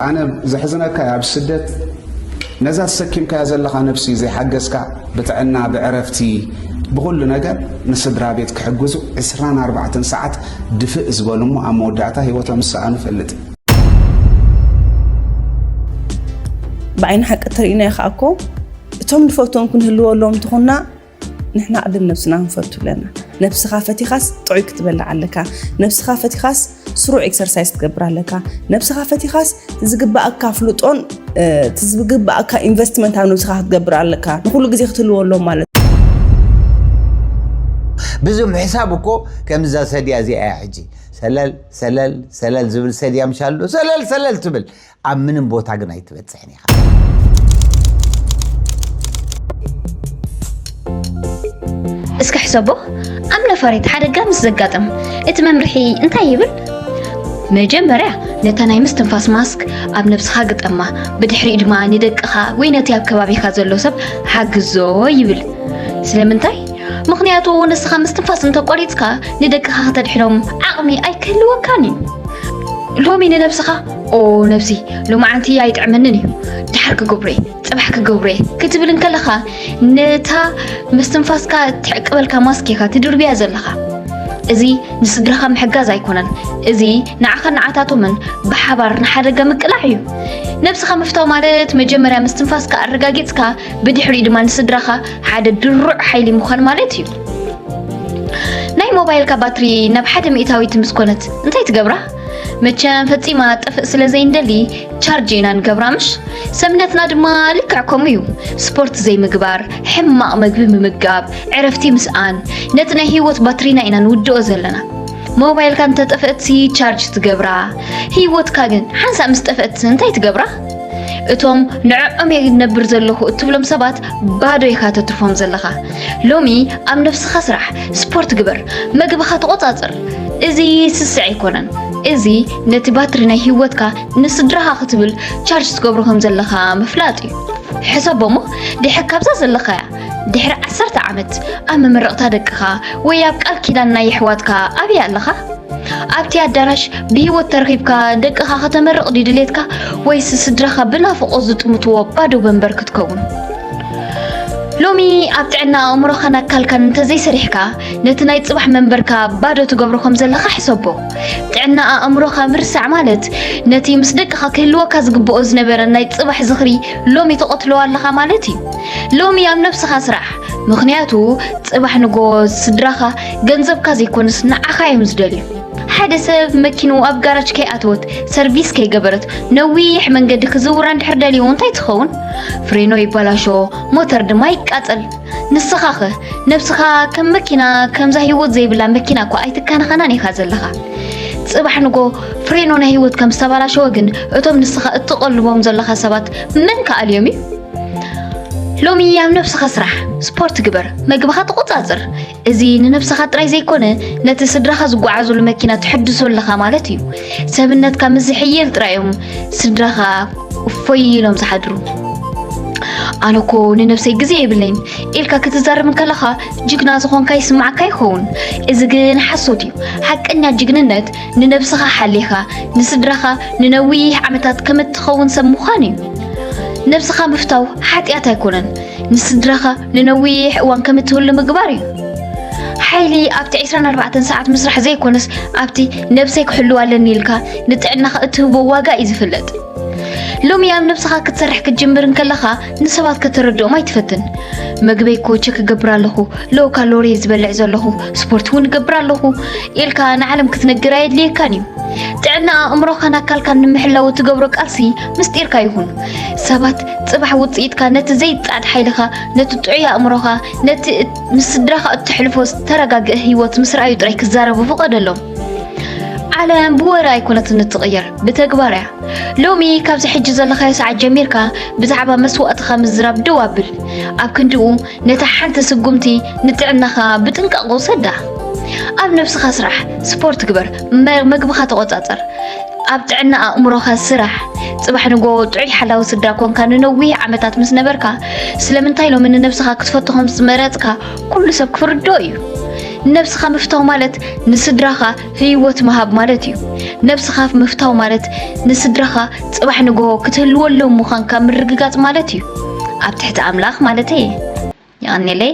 ኣነ ዘሕዝነካ ኣብ ስደት ነዛ ተሰኪምካያ ዘለኻ ነብሲ ዘይሓገዝካ ብጥዕና ብዕረፍቲ ብኹሉ ነገር ንስድራ ቤት ክሕግዙ 24 ሰዓት ድፍእ ዝበሉ እሞ ኣብ መወዳእታ ሂወቶም ዝሰኣኑ ፈልጥ ብዓይኒ ሓቂ እተርእናዮ ከዓ እኮ እቶም ንፈትዎም ክንህልወሎም እንተኾንና ንሕና ቅድም ነብስና ክንፈቱ ኣለና ነብስኻ ፈቲኻስ ጥዑይ ክትበልዕ ኣለካ ነብስኻ ፈቲኻስ ስሩዕ ኤክሰርሳይዝ ክትገብር ኣለካ ነብስኻ ፈቲኻስ ዝግባኣካ ፍልጦን ዝግባኣካ ኢንቨስትመንት ኣብ ነብስኻ ክትገብር ኣለካ ንኩሉ ግዜ ክትህልዎ ኣሎ ማለት ብዙም ሕሳብ እኮ ከምዛ ሰድያ እዚኣ ሕጂ ሰለል ሰለል ሰለል ዝብል ሰድያ ምሻሉ ሰለል ሰለል ትብል ኣብ ምንም ቦታ ግን ኣይትበፅሕን ኢኻ። እስኪ ሕሰቦ ኣብ ነፋሪት ሓደጋ ምስ ዘጋጥም እቲ መምርሒ እንታይ ይብል? መጀመርያ ነታ ናይ ምስትንፋስ ማስክ ኣብ ነብስኻ ግጠማ፣ ብድሕሪኡ ድማ ንደቅኻ ወይ ነቲ ኣብ ከባቢኻ ዘሎ ሰብ ሓግዞ ይብል። ስለምንታይ? ምክንያቱ ንስኻ ምስትንፋስ እንተቆሪፅካ ንደቅኻ ከተድሕኖም ዓቕሚ ኣይክህልወካን እዩ። ሎሚ ንነብስኻ ኦ ነብሲ ሎማዓንቲ ኣይጥዕመንን እዩ ድሓር ክገብሮ እየ ፅባሕ ክገብሮ እየ ክትብል እንከለኻ ነታ መስትንፋስካ ትዕቅበልካ ማስክ ኢኻ ትድርብያ ዘለኻ እዚ ንስድራኻ ምሕጋዝ ኣይኮነን እዚ ንዓኻ ንዓታቶምን ብሓባር ንሓደጋ ምቅላዕ እዩ ነብስኻ ምፍታው ማለት መጀመርያ ምስትንፋስካ ኣረጋጊፅካ ብድሕሪኡ ድማ ንስድራኻ ሓደ ድሩዕ ሓይሊ ምዃን ማለት እዩ ናይ ሞባይልካ ባትሪ ናብ ሓደ ሚእታዊት ምስ ኮነት እንታይ ትገብራ መቸም ፈጺማ ጥፍእ ስለ ዘይንደሊ ቻርጅ ኢና ንገብራ ምሽ ሰብነትና ድማ ልክዕ ከምኡ እዩ ስፖርት ዘይምግባር ሕማቕ መግቢ ምምጋብ ዕረፍቲ ምስኣን ነቲ ናይ ህይወት ባትሪና ኢና ንውድኦ ዘለና ሞባይልካ እንተጠፍእትሲ ቻርጅ ትገብራ ህይወትካ ግን ሓንሳእ ምስ ጠፍእት እንታይ ትገብራ እቶም ንዕዖም እየ ነብር ዘለኹ እትብሎም ሰባት ባዶ ኢኻ ተትርፎም ዘለኻ ሎሚ ኣብ ነፍስኻ ስራሕ ስፖርት ግበር መግብኻ ተቆጻጽር እዚ ስስዕ ኣይኮነን እዚ ነቲ ባትሪ ናይ ህይወትካ ንስድራኻ ክትብል ቻርጅ ትገብሮ ከም ዘለኻ ምፍላጥ እዩ ሕሰቦ እሞ ድሕር ካብዛ ዘለኻያ ድሕሪ ዓሰርተ ዓመት ኣብ መመረቕታ ደቅኻ ወይ ኣብ ቃል ኪዳን ናይ የሕዋትካ ኣብይ ኣለኻ? ኣብቲ ኣዳራሽ ብህይወት ተረኺብካ ደቅኻ ከተመርቕ ድዩ ድሌትካ ወይስ ስድራኻ ብናፍቖት ዝጥምትዎ ባዶ ወንበር ክትከውን? ሎሚ ኣብ ጥዕና ኣእምሮኻን ኣካልካን እንተዘይሰሪሕካ ነቲ ናይ ጽባሕ መንበርካ ባዶ ትገብሮ ከም ዘለኻ ሕሰቦ። ጥዕና ኣእምሮኻ ምርሳዕ ማለት ነቲ ምስ ደቅኻ ክህልወካ ዝግብኦ ዝነበረ ናይ ጽባሕ ዝኽሪ ሎሚ ተቐትሎ ኣለኻ ማለት እዩ። ሎሚ ኣብ ነብስኻ ስራሕ ምኽንያቱ ጽባሕ ንጎ ስድራኻ ገንዘብካ ዘይኮንስ ንዓኻ እዮም ዝደልዩ። ሓደ ሰብ መኪኑ ኣብ ጋራጅ ከይኣተወት ሰርቪስ ከይገበረት ነዊሕ መንገዲ ክዝውራ እንድሕር ደልዩ እንታይ ትኸውን? ፍሬኖ ይበላሾ፣ ሞተር ድማ ይቃጸል። ንስኻ ኸ ነብስኻ ከም መኪና ከምዛ ህይወት ዘይብላ መኪና እኮ ኣይትካናኸናን ኢኻ ዘለኻ። ጽባሕ ንጎ ፍሬኖ ናይ ህይወት ከም ዝተበላሸወ ግን እቶም ንስኻ እትቐልቦም ዘለኻ ሰባት መን ከኣልዮም እዩ? ሎሚ ኣብ ነብስኻ ስራሕ፣ ስፖርት ግበር፣ መግብኻ ተቖጻጽር። እዚ ንነብስኻ ጥራይ ዘይኮነ ነቲ ስድራኻ ዝጓዓዙሉ መኪና ትሕድሶ ኣለኻ ማለት እዩ። ሰብነትካ ምስ ዝሕየል ጥራይ እዮም ስድራኻ እፎይ ኢሎም ዝሓድሩ። ኣነ እኮ ንነብሰይ ግዜ የብለይን ኢልካ ክትዛረብ እንከለኻ ጅግና ዝኾንካ ይስማዓካ ይኸውን። እዚ ግን ሓሶት እዩ። ሓቀኛ ጅግንነት ንነብስኻ ሓሊኻ ንስድራኻ ንነዊሕ ዓመታት ከም እትኸውን ሰብ ምዃን እዩ። ነብስኻ ምፍታው ሓጢኣት ኣይኮነን፣ ንስድራኻ ንነዊሕ እዋን ከም እትህሉ ምግባር እዩ። ሓይሊ ኣብቲ 24 ሰዓት ምስራሕ ዘይኮነስ ኣብቲ ነብሰይ ክሕልው ኣለኒ ኢልካ ንጥዕናኻ እትህቦ ዋጋ እዩ ዝፍለጥ። ሎሚ ኣብ ነብስኻ ክትሰርሕ ክትጅምር እንከለኻ ንሰባት ከተረድኦም ኣይትፈትን መግበይ እኮ ቸክ ክገብር ኣለኹ ሎ ካሎሪ ዝበልዕ ዘለኹ ስፖርት እውን እገብር ኣለኹ ኢልካ ንዓለም ክትነግር ኣየድልየካን እዩ ጥዕና ኣእምሮኻን ኣካልካን ንምሕላው እትገብሮ ቃልሲ ምስጢርካ ይኹን ሰባት ፅባሕ ውፅኢትካ ነቲ ዘይፃዕድ ሓይልኻ ነቲ ጥዑይ ኣእምሮኻ ነቲ ምስ ስድራኻ እትሕልፎ ዝተረጋግአ ህይወት ምስ ረኣዩ ጥራይ ክዛረቡ ፍቐደሎም ዓለም ብወረ ኣይኮነትን እትቕየር ብተግባር እያ ሎሚ ካብዚ ሕጂ ዘለኻዮ ሰዓት ጀሚርካ ብዛዕባ መስዋእትኻ ምዝራብ ደው ኣብል ኣብ ክንድኡ ነታ ሓንቲ ስጉምቲ ንጥዕናኻ ብጥንቃቕ ውሰዳ ኣብ ነብስኻ ስራሕ ስፖርት ግበር መ- መግብኻ ተቆጻጸር ኣብ ጥዕና ኣእምሮኻ ስራሕ ጽባሕ ንጎ ጥዑይ ሓላዊ ስድራ ኮንካ ንነዊሕ ዓመታት ምስ ነበርካ ስለምንታይ ሎሚ ንነብስኻ ክትፈቱ ከም ዝመረጽካ ኩሉ ሰብ ክርድኦ እዩ ነብስኻ ምፍታው ማለት ንስድራኻ ህይወት ምሃብ ማለት እዩ። ነብስኻ ምፍታው ማለት ንስድራኻ ጽባሕ ንግሆ ክትህልወሎም ምዃንካ ምርግጋጽ ማለት እዩ። ኣብ ትሕቲ ኣምላኽ ማለተይ እየ። የቐኔለይ